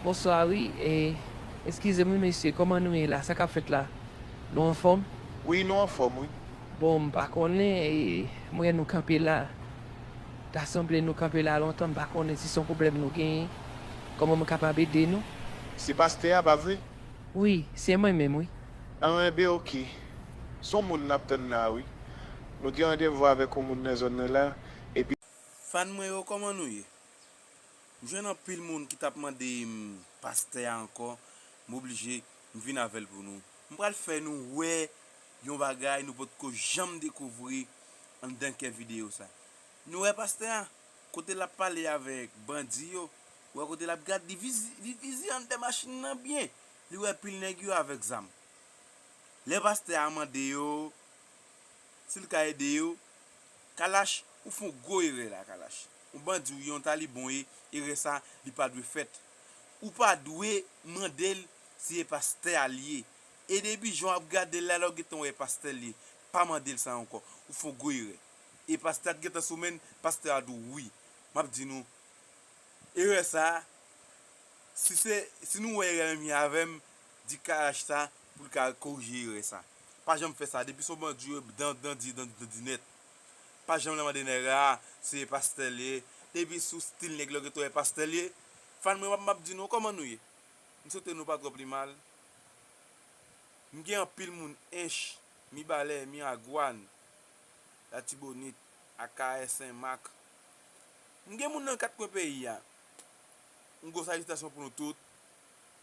Bonswa wi e eskize m wi mesye kòman nou ye la sa kap fèt la nou anfòm? Wi nou anfòm wi. Bon m pa konnen e m wè nou kanpe la ta sanble nou kanpe la lontan m pa konnen si son pwoblèm nou genyen kòman m kapab ede nou? Se pastè a pa vre? Wi se mwen menm wi. Anhbe ok. Son moun nap tann la wi. Nou gen randevou avèk yon moun nan zòn nan la epi. Fan mwen yo koman nou ye? M jwenn anpil moun ki tap mande m pastè a ankò m oblije m vin avèl pou nou. M pral fè nou wè yon bagay nou potko janm dekouvri anndan kè videyo sa. Nou wè pastè a? Kote lap pale avèk bandi yo Ou wè kote lap gad li vizivizi andè machin nan byen li wè pil nèg yo avèk zam lè pastè a mande yo sil ka ede yo Kalash ou fon gwo erè la Kalash on bandi ou ye on talibon ou ye erè sa li pa dwe fèt ou pa dwe mandel si e pastè a li ye e depi jan wap gadel la lè ou gentan wè e pastè li ye pa mandel sa ankò ou fon gwo erè e pastè a t gentan sou menn pastè a di w wi map di nou Erè sa, si se, si nou wè erè menm jan avèm, di Karash sa poul ka korije erè sa. Pa janm fè sa, depi son bandi ou ye dan dan di dan dan di nèt. Pa janm nan mande nèg la, se pastè liye, depi sou stil nèg la ou gentan wè pastè liye. Fan mwen wap map di nou kòman nou ye? M swete nou pa twò pi mal. M gen anpil moun Ench, Mibalè, Miragwàn, Latibonit, Akayè, Senmak. M gen moun nan kat kwen peyi a. Yon gwo salitasyon pou nou tout.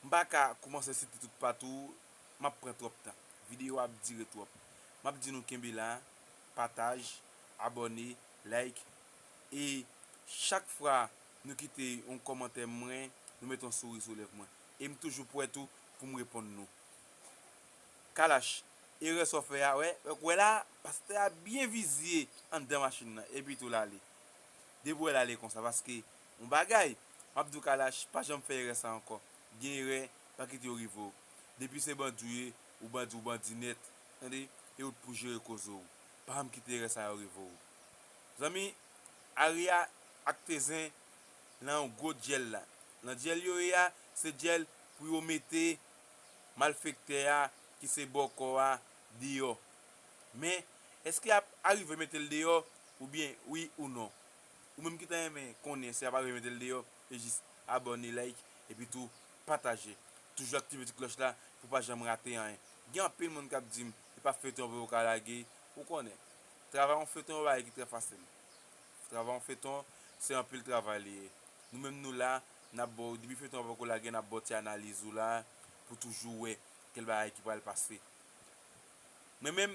M pa ka koumanse site tout patou, m ap pran twòp tan. Videyo a ap dire twòp. M ap di nou kenbe la, pataj, abòne, like e chak fwa nou kite yon kòmantè mwen, nou mete yon souri sou lèv mwen. E m toujou prè tou pou m reponn nou. Kalash, erè sa w fè a, wè, wè la, pastè a byen vizye anndan machin nan, epitou l ale. Depi wèl ale konsa paske yon bagay map diw kalash pa janm fè erè sa ankò gen erè pa kite yo rive w depi se bandi w ye ou bandi ou bandi nèt tande e ou t pou jere koze w pa janm kite erè sa yo rive w zanmi Aria ak Tezen nan yon gwo dyèl la nan dyèl yo ye a se dyèl pou yo mete malfektè a ki se bòkò a deyò Men, èske y ap arive mete l deyò? Oubyen, wi ou non? Ou menm ki ta renmen konnen si y ap arive mete l deyò, e jis abòne, like, epi tou pataje. Toujou aktive ti klòch la pou w pa janm rate anyen. Gen anpil moun k ap di m, e pa feyton vre ou ka lage? Ou konnen, travay yon feyton yon bagay ki trè fasil. Travay yon feyton, se anpil travay li ye. Nou menm nou la, n ap ba w, depi feyton an poko lage, n ap ba w ti analiz ou la pou w toujou wè kèl bagay ki pral pase. Mwen menm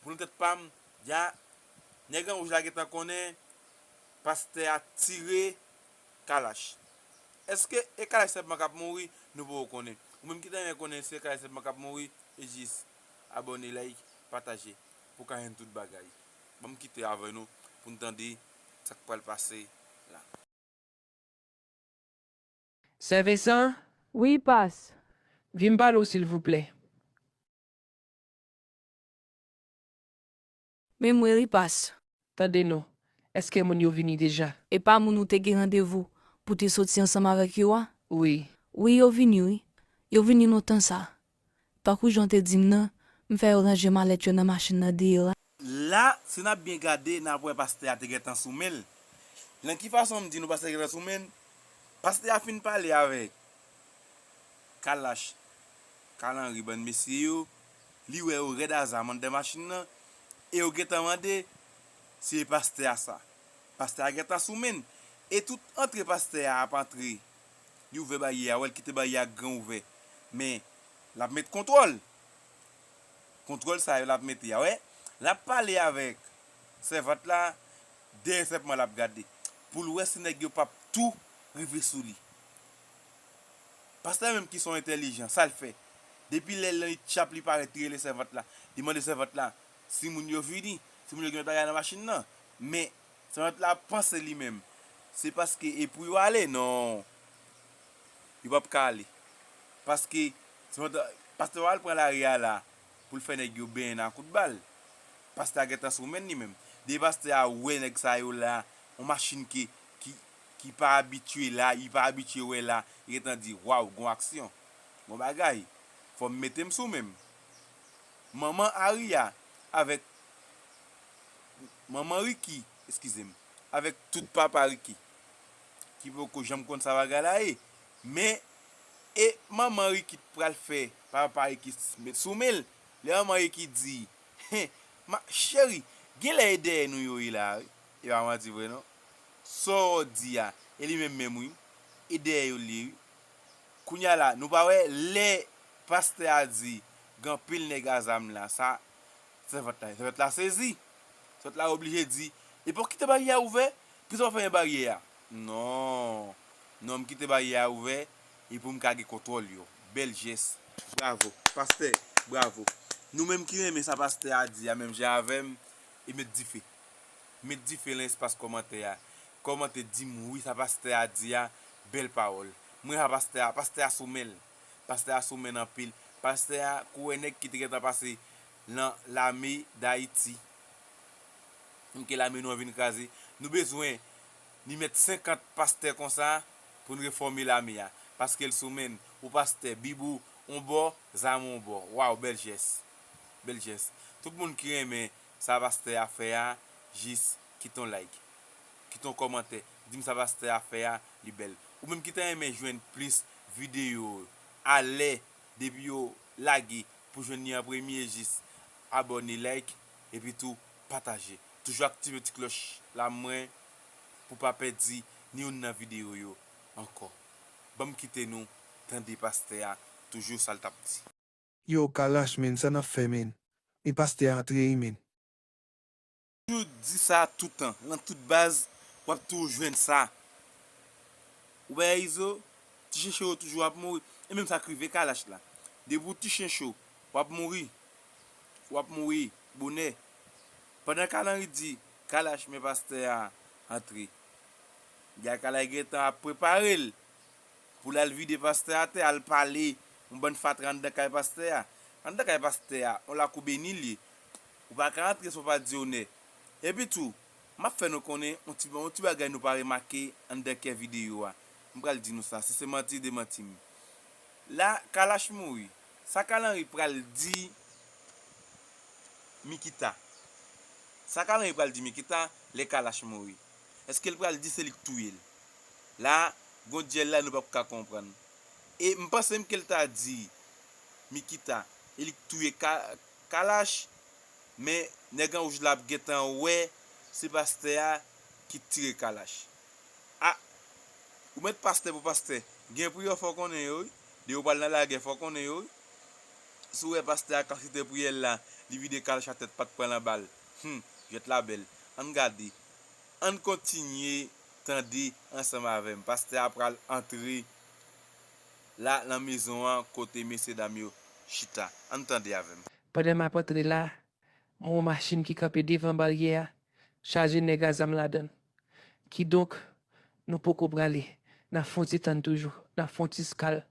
pou nan tèt pam ya nèg anwouj la gentan konnen pastè a tire kalach eske e kalach sèlman kap mouri nou poko konnen ou menm ki ta renmen konnen se kalach sèlman kap mouri e jis abòne like pataje pou ka jwenn tout bagay banm kite avè nou poun tande sak pral pase la. Sè Vensan? Wi, pas. Vin m pale w silvouplè. Men mwen ri pas. Tande non. Eske moun yo vini deja? E pa moun ou te gen randevou pou te soti ansanm avèk yo a? Wi. Wi yo vini wi. Yo vini lontan sa. Tankou jan w te di m nan, m fè yo ranje malèt yo nan machin nan deyò a. La, si n ap byen gade, n ap wè pastè a te gentan sou men l. Nan ki fason m di nou pastè a te gentan sou men l? Pastè a fin pale avèk Kalash, Carl Henry, bann mesye yo, li wè yo rèd azam anndan machin nan, e yo gentan mande, Se pastè a sa? Pastè a gentan sou men l. E tout antre pastè a ap antre. Li ouvè baryè a wè l kite baryè a gran ouvè men lap met kontwòl kontwòl sa yo lap mete a wè lap pale avèk sèvant la dèyè sèpman lap gade pou l wè si nèg yo pap tou rive sou li pastè menm ki son entèlijan sa l fè depi lè nan ityap li parèt li rele sèvant la li mande sèvant la si moun yo vini si moun yo gen lòt bagay nan machin nan men Servant la ap panse li menm se paske e pou yo ale non yo pap ka ale paske servant la pastè pral pran lari a la poul fè nèg yo benyen nan kout bal pastè a gentan sou menl li menm depi pastè a wè nèg sa yo la yon machin ke ki ki pa abitye la li pa abitye wè la li gentan di waw gon aksyon gon bagay fòm metem sou menm manman Aria avèk. manman Ricky, eskize m, avèk tout papa Ricky ki poko janm konn sa bagay la ye, men e manman Ricky t pral fè papa Ricky t met sou men l, lè manman Ricky di, heh ma cheri genlè e dèyè nou yo ye la wi, e pa manti vre non, sa w di a e li menm menm wi, e dèyè yo l ye wi, kounya la nou pa wè lè pastè a di gen anpil nèg a zam la sa Sèvant la sèvant la sezi. Sèvant la oblije di, Epi ou kite baryè a ouvè, poukisa ou pa fèmen baryè a? Non, non m kite baryè a ouvè e pou m ka gen kontwòl yo. Bèl jès. Bravo. Pastè, bravo. Nou menm ki renmen sa pastè a di a menm jan avè m e met dife. Met dife lan espas kòmantè a. Kòmante di m wi sa pastè a di a, bèl pawòl. Mwen renmen sa pastè a, pastè a sou men l. Pastè a sou menn anpil. Pastè a kouwè nèg ki te gentan pase lan lame dayiti. M ke lame nou an vin kraze. Nou bezwen ni mèt 50 pastè konsa pou n refòme lame a. Paske l sou menn. Ou pastè, bib ou on bò, zam ou on bò. Waw bèl jès. Bèl jès. Tout moun ki renmen Sa pastè a fè a jis kite yon like kite yon kòmantè dim sa pastè a fè a li bèl ou menm ki ta renmen jwenn plis videyo yo a lè depi yo lage pou jwenn li an premye jis abòne like epi tou pataje toujou aktive ti klòch la mwen pou pa pèdi ni youn nan videyo yo ankò banm kite nou tande pastè a toujou sal tap di. Yow kalash menn sa nap fè menn men pastè a antre wi menn. Toujou di sa toutan lan tout baz wap toujou jwenn sa ou bay a izo ti chen cho yo toujou ap mouri e menm sak rive kalash la depi ou ti chen cho wap mouri wap mouri bonè pandan kal anri di kalash men pastè a antre gay kalash gentan ap preparel Pou lal vide pastè atè al pale yon bann fatra andan kay pastè a. Andan kay pastè a, yon lakou beni l ye. Ou pa ka antre san w pa di onè. Epi tou, m ap fè nou konnen yon ti yon ti bagay nou pa remake andan kè videyo a. M pral di nou sa, si se manti demanti m. La Kalash mouri, sa Kal Henry pral di Mikita? Sa Kal Henry pral di Mikita lè Kalash mouri? Eskel pral di se li k touyel. La gon dyèl la nou pap ka konprann. E m pansem kel ta di Mikita e li k touye Kalash men nèg an wouj la ap gentan wè se pastè a ki t tire Kalash. Ah ou met pastè pou pastè gen priyè fò konnen yo wi de yo pral nan lagè fò konnen yo wi si w wè pastè a kan site priyèl la li vide Kalash atè pat pran lan bal humm jwèt la bèl ann gade. Ann kontinye tande ansanm avè m. Pastè a pral antre la nan mezon an kote mesyedam yo chita. Ann tande avè m. Pandan m ap antre la, m wè yon machin ki kanpe devan baryè a, chaje nèg a zam ladan l. Kidonk, nou poko prale. N ap fè yon ti tann toujou. N ap fè yon ti skal.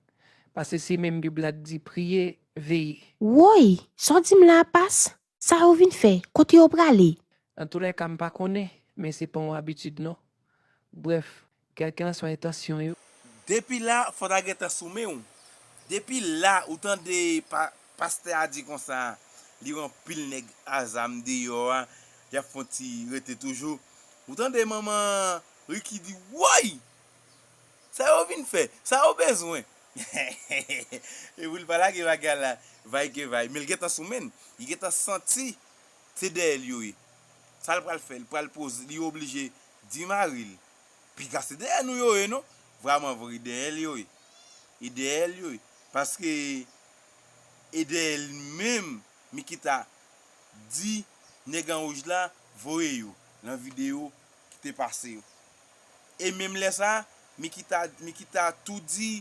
Pase se menm Bib la t di, Priye, veye. Woy! Sa w di m la a pas? Sa yo vin fè? Kote yo prale? Nan tou lè ka m pa konnen, men se pa yon abitid non. Brèf, kèlkelanswa entansyon yo. Depi la fò ta gentan sou men w. Depi la ou tande pa pastè a di konsa li wè anpil nèg a zam deyò a y ap fon ti rete toujou. Ou tande manman Ricky di woy! Sa yo vin fè? Sa yo bezwen? Hehehehe Epoul pa lage bagay a la vay ke vay menl gentan sou menn li gentan santi se dèyèl yo ye sal pral fè li pral poze li oblije di maril piga se dèyè nou yo ye non vraman vre dèyèl yo ye e dèyèl yo ye paske e dèyèl menm Mikita di nèg anwouj la voye yo nan video kite pase yo. e menm lè sa Mikita Mikita tou di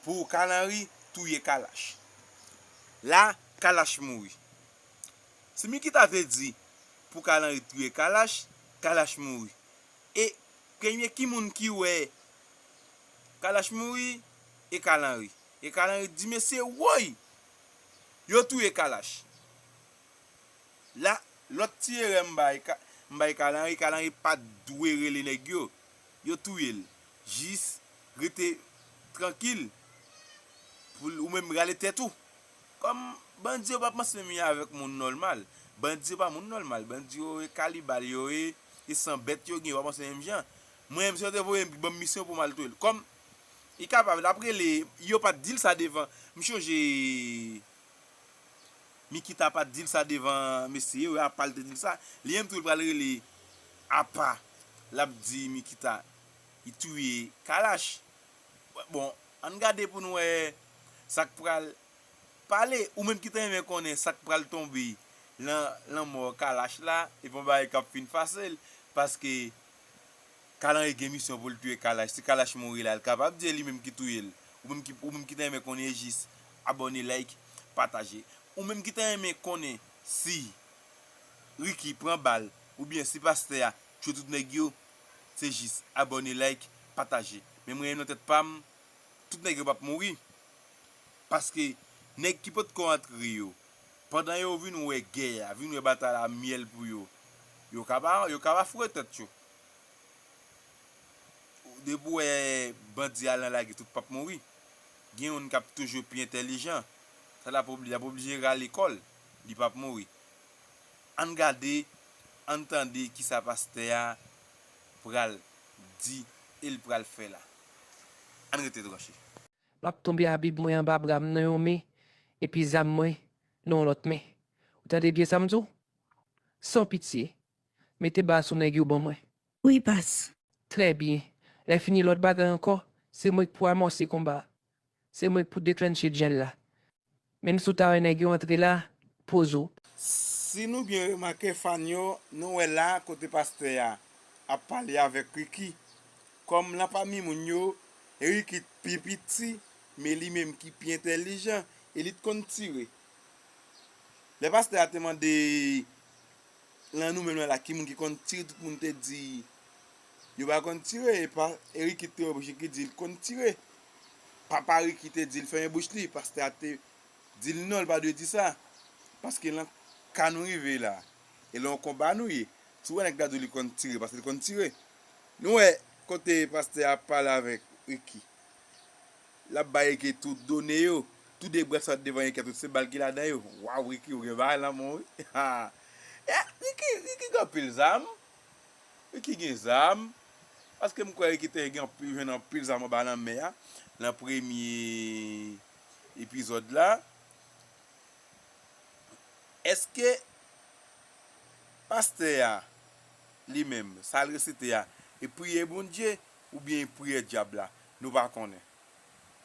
pou Carl Henry touye Kalash la Kalash mouri si Mikita te di pou Carl Henry touye Kalash Kalash mouri e premye ki moun ki wè Kalash mouri e Carl Henry e Carl Henry di mesye woy yo touye Kalash. La, lòt ti erè m bay, m bay Carl Henry, Carl Henry pat dwe rele nèg yo. Yo touye l. Jis rete trankil pou ou menm rale tèt ou. Kòm bandi yo pap mansemi avèk moun nòlmal. Bandi yo pa moun nòlmal. Bandi yo e kalibal yo ye, e san bèt yo gen yo pa panse menm jan. Mwen menm si yo te voye m, ban m misyon pou m al touye l. Kòm li kapab, l ap rele, yo pat di l sa devan. M chonje Nikita pat dil sa devan mesye yo apal te dil sa li menm tou li pral rele apa lap di Nikita li touye kalash bon ann gade pou nou wè sak pral pale ou menm ki ta renmen konnen sak pral tonbe lan lanmò kalash la epi yon bagay kap fin fasel paske. Kalanri gen misyon poul touye kalash si kalash mouri la kapab di e li menm ki touyel ou menm ki ou menm ki ta renmen konnen e jis abòne like pataje ou menm ki ta renmen konnen si Ricky pran bal oubyen si pastè a tchwe tout nèg yo se jis abòne like pataje men mwen nan tèt pam tout nèg yo pap mouri paske nèg ki potko antre yo pandan yo vin wè gè a vin wè batay la myèl pou yo yo ka pa yo ka pa foure tèt yo. Depi ou wè bandi al nan lage tout pap mouri. Gen youn kap toujou pi entèlijan. Sa lap obli, lap oblije rale kòl, li pap mouri. Ann gade, ann tande kisa pastè a pral di el pral fè la. Ann rete branche. Map tonbe a bib mwen anba bram nan yon men epi zam mwen nan yon lòt men ou tande byen sam diw san pitye Mete bas ou nèg yo ban mwen. Wi bas. Trè byen. Lè fini lòt bagay ankò, se mwen k pou amòse konba a. Se mwen k pou deklennche dyèl la. Menm si w ta wè nèg yo antre la, poze w. Si nou byen remake fann yo, nou wè la kote pastè a ap pale avèk Ricky. Kòm lan pami moun yo, Ricky t pi piti, men li menm ki pi entèlijan e li t konn tire. Lè pastè a te mande Lan nou menm lan la ki moun ki konn tire tout moun te di yo pa konn tire epa e Ricky ki te wè bouch Ricky di li t konn tire papa Ricky te dil fèmen bouch li pastè a te dil non li pa dwe di sa paske lan ka nou rive la e lan yon konba nou ye si w wè nèg la di w li konn tire paske li konn tire nou wè kote pastè a pale avèk Ricky L ap bay Ricky tout done yo. Tou de brèt sot devan Ricky tout se bal ki ladan yo. Waw Ricky ou gen bagay lanmou wi haa eh Ricky Ricky gen anpil zam Ricky gen zam paske m kwè Ricky te gen anpil jwenn anpil zam anba lanmè a nan premye epizòd la èske pastè a li menm sa l resite a e priyè Bondye oubyen e priyè dyab la Nou pa konnen.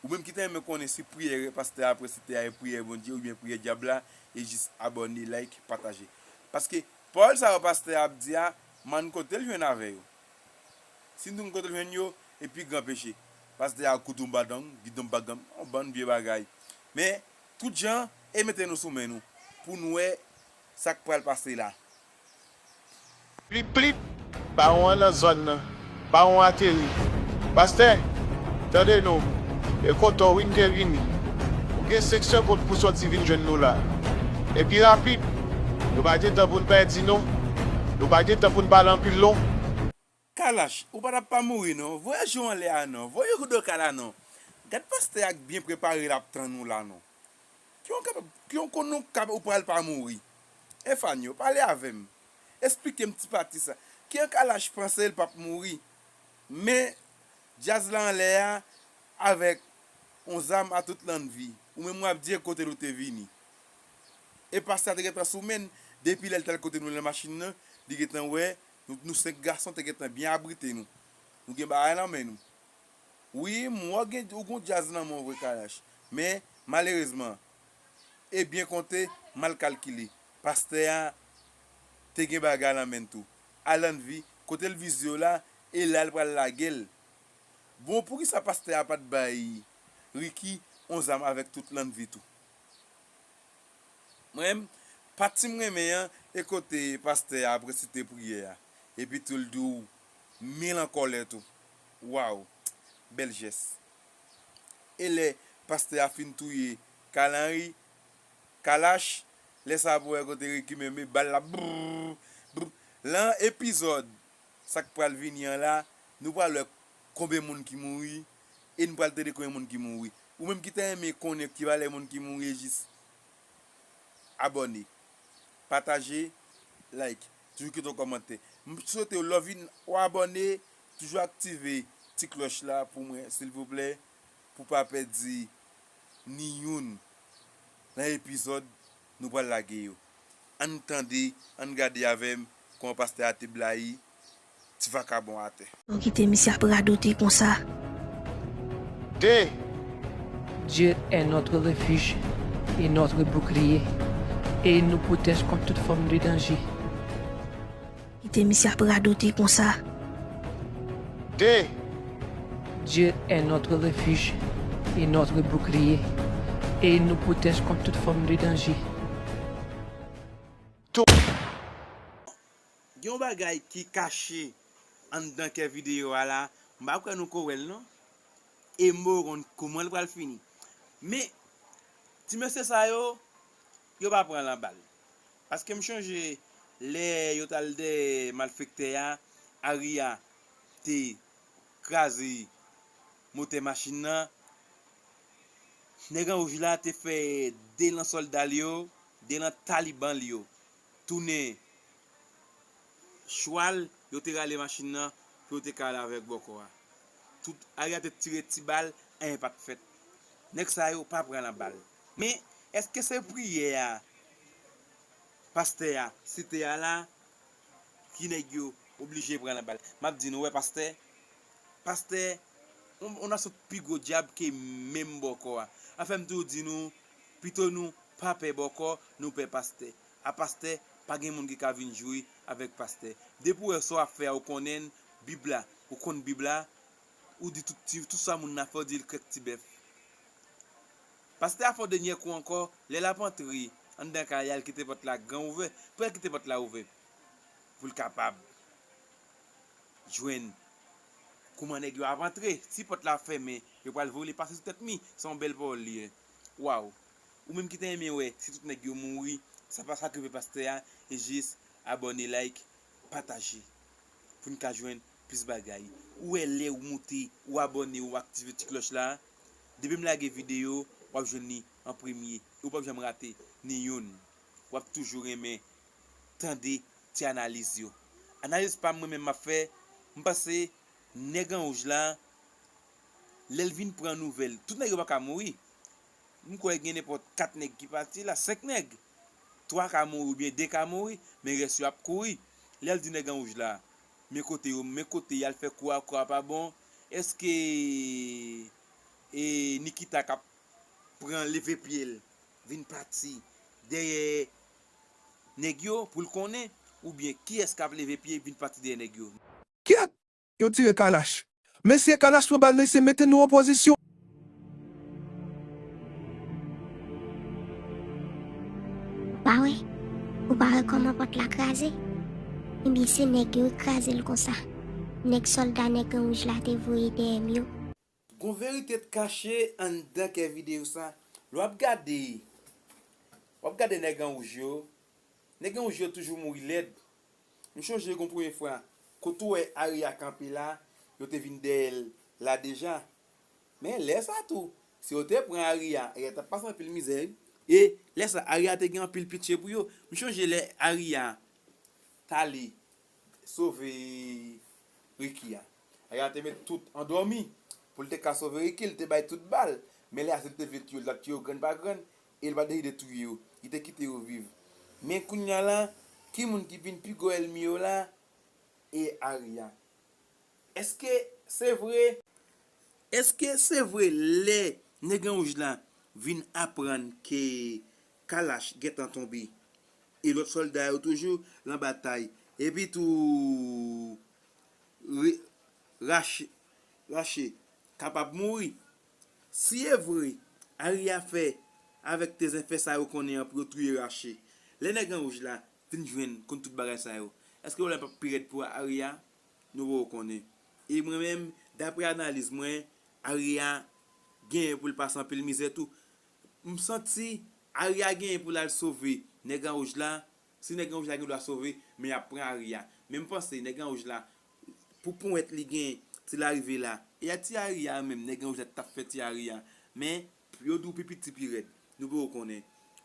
Ou menm ki ta renmen konnen si priyè pastè a presite a e priyè Bondye oubyen priyè dyab la e jis abòne like pataje paske pawòl sa yo pastè a ap di a m'en kotel jwenn avè yo si nou t konn kotel jwenn yo e pi gran peche pastè a kout yon badang git yon bagam yon bann vye bagay men tout jan e mete nou sou men nou pou nou wè sak pral pase la. Plip plip! Bawon an nan zòn nan! Bawon ateri! Pastè! Tande nou! E kontan wi n te vini! Ou gen 5 segond pou w sòti vin jwenn nou la! E pi rapid! Nou pa gen tan pou n pèdi non! Nou pa gen tan pou n pale anpil non! Kalash ou pa tap pa mouri non voyaj yo anlè a non voye yo doka la non gad pastè a k byen prepare lap tann ou la non ki yon kapab ki yon kon nou kab ou pral pa mouri Efanio pale avèm esplikem ti pati sa ki an kalash panse l pap mouri men djaz la anlè a avèk yon zam a tout lannvi ou menm wap di e kotel ou te vini e pastè a te gentan sou menn depi lèl tal kote nou nan machin nan li gentan wè Nou 5 gason te gentan byen abrite nou. Nou gen bagay lan men nou. Wi, m wè w gen ou gen yon djaz lan men w vre Kalash. Men, malerezman, e byen konte, mal kalkile, pastè a te gen bagay lan men n tou. Alannvi, kote l vize w la, e la l pral lage l. Bon, poukisa pastè a pa t bay Ricky yon zam avèk tout Lannvi tou? Mwen menm, pati m renmen an e kote pastè a ap resite priyè a epi tou l di w mil an kòlè tou. Waww! Bèl jès. E lè pastè a fin touye Kalanri, Kalash, lè sa a pou wè kote Ricky menm e bal la brrrr, brrrr. Lan epizòd sa k pral vini an la, nou pral wè konbe moun ki mouri E n pral tande konbyen moun ki mouri. Ou menm ki ta renmen konnen ki valè moun ki mouri jis abòne, pataje, like, toujou kite yon kòmantè. M swetew lè w vin ou abòne toujou aktive ti klòch la pou mwen silvouplè pou pa pèdi ni youn nan epizòd nou pral lage yo. Ann tande, ann gade avè m kòman pastè a te blayi. ti vakabon atè. Bon kite misye ap radote konsa. Dee! Dieu est notre refuge et notre bouclier et il nous protège contre toute forme de danger. Kite misye ap radote konsa. Dee! Dieu est notre refuge et notre bouclier et il nous protège contre toute forme de danger. Tou! Gen yon bagay ki kache anndan kè video a la m pa kwè nou ko wèl non e m poko konn koumanl pral fini men ti mesye sa yo yo pa pran lan bal paske m chonje lè yo tal dèyè malfektè a Aria te kraze motè machin nan nèg an wouj la te fè 2 lan sòldal yo 2 lan talibanl yo tounen chwal, yo te rale machin nan pou yo te ka al avèk bòkò a. Tout Aya te tire ti bal, anyen pa t fèt. Nèg sa yo pa pran nan bal. Men, èske se priyè a pastè a site a la ki nèg yo oblije pran nan bal? M ap di nou, ou wè pastè, pastè, yon nasyon pi gwo dyab ke menm bòkò a. Sa fè m toujou di nou. Pito nou pa pè bòkò nou pè pastè a pastè pa gen moun ki ka vin jwe avèk pastè depi ou wè sa wap fè a ou konnenn bib la ou konn bib la ou di tout ti tout sa moun nan fè ou dil krèk ti bèf pastè a fè w denyè kou ankò lè lap antre anndan kay la li kite pòt la gran ouvè pou al kite pòt la ouvè poul kapab. jwenn kouman nèg yo ap antre ti pòt la ap fèmen yo pral voye li pase sou tèt mi se yon bèl pawòl li ye waw ou menm ki ta renmen wè si tout nèg yo mouri sa pa sa ki rive pastè a jis abòne like pataje poun ka jwenn plis bagay ou wè lèw moute ou abòne ou aktive ti klòch la depim lage video wap jwenn li an premye e ou pap janm rate ni youn. Wap toujou renmen tande ti analiz yo. Analiz pam mwen menm map fè, m panse nèg an wouj la lèl vin pran nouvèl, tout nèg yo paka mouri, m kwè gen nenpòt 4 nèg ki pati la, 5 nèg, 3 ka mouri oubyen 2 ka mouri, men rès yo ap kouri, lèl di nèg an wouj la men kote yo men kote yal fè kou a kou a pa bon, èske e Nikita kap pran leve pyel vin pati dèyè nèg yo pou l konnen oubyen kiyès k ap leve pye vin pati dèyè nèg yo. Kyèt! Yo tire kalach. Mesye kalach pran bal mesye mete nou an pozisyon. Ou pa wè? Ou pa wè kòman pòt la kraze? Ebyen se nèg yo ki kraze l konsa. Nèg sòlda nèg an wouj la te voye dèyè m yo. Gon verite t kache anndan kè video sa lè wap gade wap gade nèg an wouj yo nèg an wouj yo toujou mouri lèd m chonje gon premye fwa kot ou wè Aria kanpe la yo te vin dèyèl la deja men lè sa tou si yo te pran Aria Aria tap pase anpil mizè wi e lè sa Aria te gen anpil pitye pou yo m chonje lè Aria tale sove Ricky a. Ayana te met tout andòmi poul te ka sove Ricky li te bay tout bal men lè ase li te vle tiye yo li tap tiye yo grenn pa grenn e li pa deside touye yo li te kite yo viv men kounya la ki moun ki vin pi gwo èlmi yo la e Aria eske se vre eske se vre lè nèg anwouj la vin aprann ke Kalach gentan tonbe e lòt sòlda yo toujou lan batay. Epi tou Rache Rache kapab mouri. Si e vre Ari a fè avèk tezenfè sa yo konnen an pou yo touye Rache, lè Nèg an wouj la vin jwenn konn tout bagay sa yo, èske pwoblèm pap pi rèd pou Ari a? Nou poko konnen. E mwen menm, daprè analiz mwen, Ari a genyen pou l pase anpil mizè tou. M santi Aria genyen pou l al sove nèg an wouj la, si nèg an wouj la gen dwa sove men y ap pran Aria men m panse nèg an wouj la pou ponyèt li genyen si l arive la e a ti Aria an menm nèg an wouj la t ap fè ti Aria men yo di w pi piti pi rèd nou poko konnen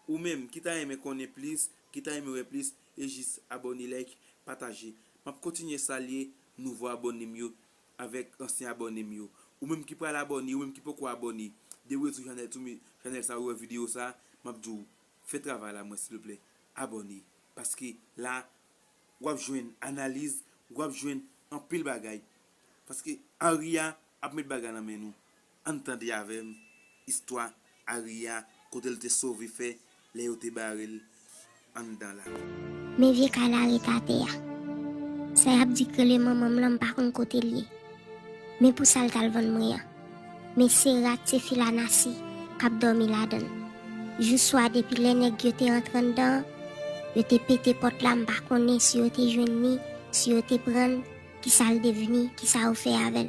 ou menm ki ta renmen konnen plis ki ta renmen wè plis e jis abòne like pataje m ap kontinye salye nouvo abòne m yo Avèk ansyen abòne m yo. Ou menm ki pral abòne, ou menm ki poko abòne, deroule sou chanèl sou chanèl sa ou wè video sa, map di w fè travay la mwen silvouplè, abòne paske la wap jwenn analiz, wap jwenn anpil bagay paske Aria ap met bagay nan men nou. Ann tande avèm istwa Aria kotel te sove fè lè yo te barel anndan la. Men vye kay la ret atè a. Sa yap di k rele manmanm lan m pa konn kotel ye. Men pou sal tal vann mwen an. Men se rat se fi lanasi kap dòmi ladann. Jou swa depi lè nèg yo te antre anndan an, yo te pete pòt la m pa konnen si yo te jwenn ni, si yo te prann, kisal devni, kisa yo fè avèl.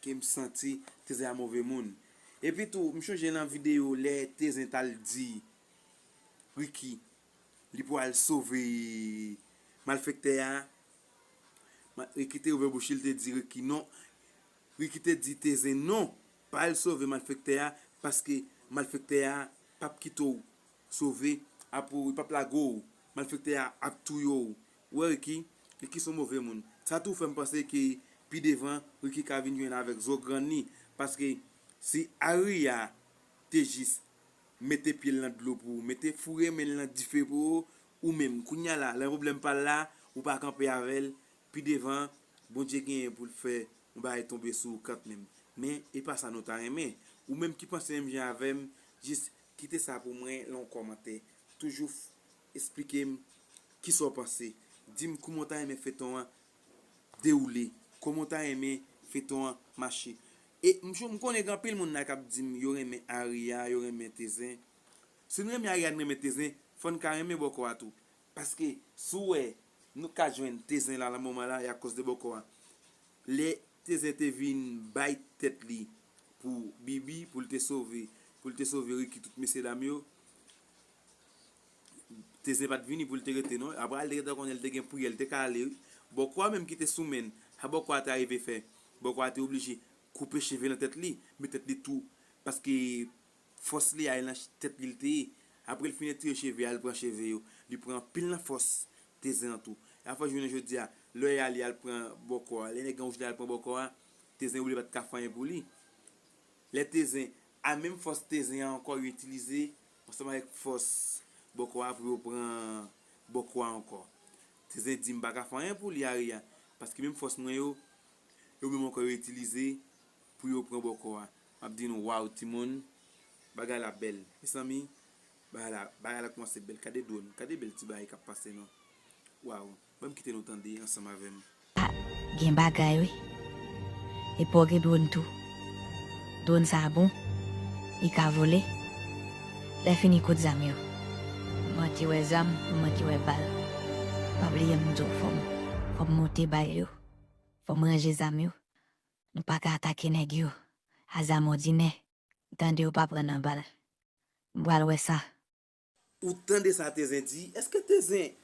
Kem santi tezin a move moun. Epi tou m chonje nan video lè tezin tal di Ricky li pou al sove malfektè a Ricky te ouvè bouch li te di Ricky non Ricky te di tezin non pa al sove malfektè a paske malfektè a pap kite w sove a pou li pap lage w malfektè a ap touye w Ou wè Ricky, Ricky son move moun. Sa tou fèm panse ke pi devan Ricky ka vin jwenn avèk zo grann li paske si Aria te jis mete pyel nan dlo pou ou, mete foure menl nan dife pou ou, ou menm kounya la lè yon pwoblèm pral la ou pa kanpe avèl, pi devan Bondye genyen poul fè yon bagay tonbe sou ou kant menm. Men e pa sa nou ta renmen. Ou menm ki panse menm jan avèm jis kite sa pou mwen lan yon kòmantè. Toujou. Esplike m kisa w panse. Di m kouman w ta renmen feyton an dewoule. Kouman w ta renmen feyton an mache. E m chou m konnen gen anpil moun la k ap di m yo renmen Aria, yo renmen Tezen. Si n renmen Aria n renmen Tezen, fò n ka renmen bòkò a tou. Paske si w wè nou ka jwenn Tezen la nan moman la e akòz de bòkò a. Lè Tezen te vin bay tèt li pou Bibi pou l te sove pou l te sove Ricky tout mesye dam yo. Teze pat vini poul te rete non aprè al te gentan konnen li te gen pou yel te ka ale wi bòkòa menm kite sou menn sa bòkòa te arive fè bòkòa te oblije koupe cheve nan tèt li met tèt li tou paske fòs li al nan tèt li li te ye aprè li fin etire cheve al pran cheve yo li pran anpil nan fòs teze an tou sa fè jounen jodia lè yal yal pran bòkòa lè nèg lan oblije al pran bòkòa teze oubli pat ka fè anyen pou li lè teze a menm fòs teze ankò yo itilize Ansanm avèk fòs bòkò a pou yo pran bòkò a ankò. Tizè di, M pa ka fè anyen pou li, Ari a, paske menm fòs mwen yo, yo menm ankò yo itilize pou yo pran bòkò a. M ap di nou, Waww timoun, bagay la bèl. Mesanmi, bagay la koumanse bèl. Kade dwòn, kade bèl ti bagay k ap pase non. Waww. Banm kite nou tande ansanm avèm. Ah gen bagay wi. Epi w gen drone tou. Drone sa a bon. Li ka vole. Lè fini kot zam yo? M manke wè zam, m manke wè bal. Pa bliye m di w fò m fò m monte bal yo. Fò m ranje zam yo. Nou pa ka atake nèg yo a zam òdinè. M tande yo pa pran nan bal. M pral wè sa. Ou tande sa Tezen di, eske Tezen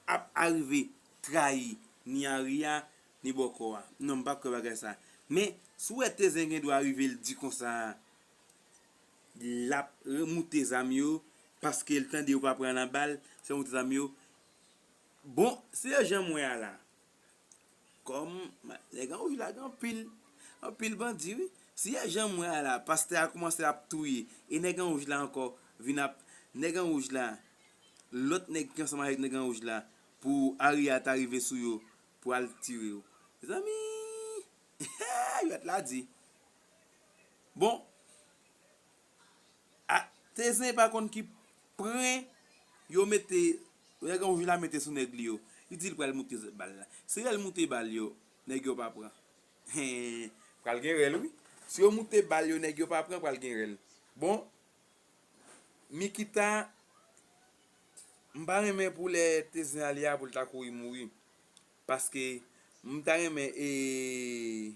ap arive trayi ni Ari a, ni Bòkò a? Non m pa kwè bagay sa. Men, si w wè Tezen gen dwa rive l di konsa, l ap remoute zam yo, paske l tande yo pa pran nan bal, se remoute zam yo. Bon, se jan m wè a la, Kòm nèg an wi la gen anpil anpil bandi wi si e janm wè a la pastè a kòmanse ap touye e nèg an wouj la ankò vin ap nèg an wouj la lòt nèg ki ansanm avèk nèg an wouj la pou ari a ta rive sou yo pou al tire yo mezanmi eehh jwèt la di bon. Ah tezin pa konn ki pren yo mete nèg an oujla mete sou nèg li yo li dil pral moute zòt bal la si lèl moute bal yo nèg yo pa pran hee pral gen rèl wi si yo moute bal yo nèg yo pa pran pral gen rèl bon Nikita m pa renmen pou lè tezin ale a poul ta kouri mouri paske m ta renmen ee.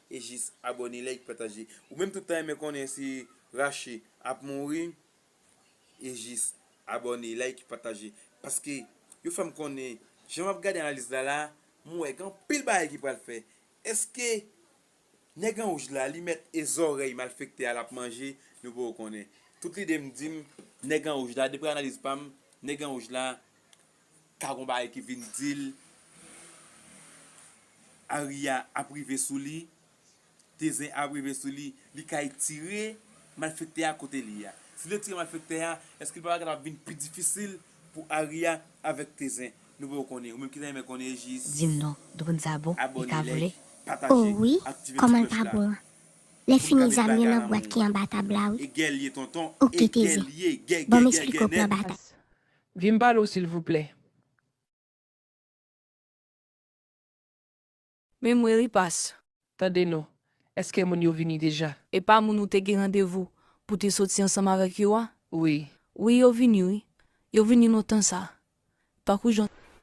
E jis abone like pataje. Ou menm tout tan renmen konnen si Rache ap mouri e jis abone like pataje paske yo fèm konnen jan map gade analiz la la m wè gen anpil bagay ki pral fè eske nèg an wouj la li mèt e zòrèy malfektè a lap manje nou poko konnen tout lidem dim nèg an wouj la dapre analiz pam nèg an wouj la Ka gon bagay ki vin dil Aria ap rive sou li, te zen ap rive sou li, li ka etire malfektè a kote li a. Si li etire malfektè a, eske li pa bagay la ap vin pi difisil pou Aria avèk te zen. Nou poko konnen, ou menm ki ta renmen konnen jis. Dim non, dronn sa bon, li ka vole? Oh wi, kòman l pa bon an? Lè fini zam yo nan bwat ki anba tab la wi. Ok te zen, banm esplike w plan batay. Vin pale w silvouplè. Men mwen ri pas. Tande non. Eske moun yo vini deja? E pa moun ou te gen randevou pou te soti ansanm avèk yo a? Wi. Wi yo vini wi. Yo vini lontan sa. Tankou jan.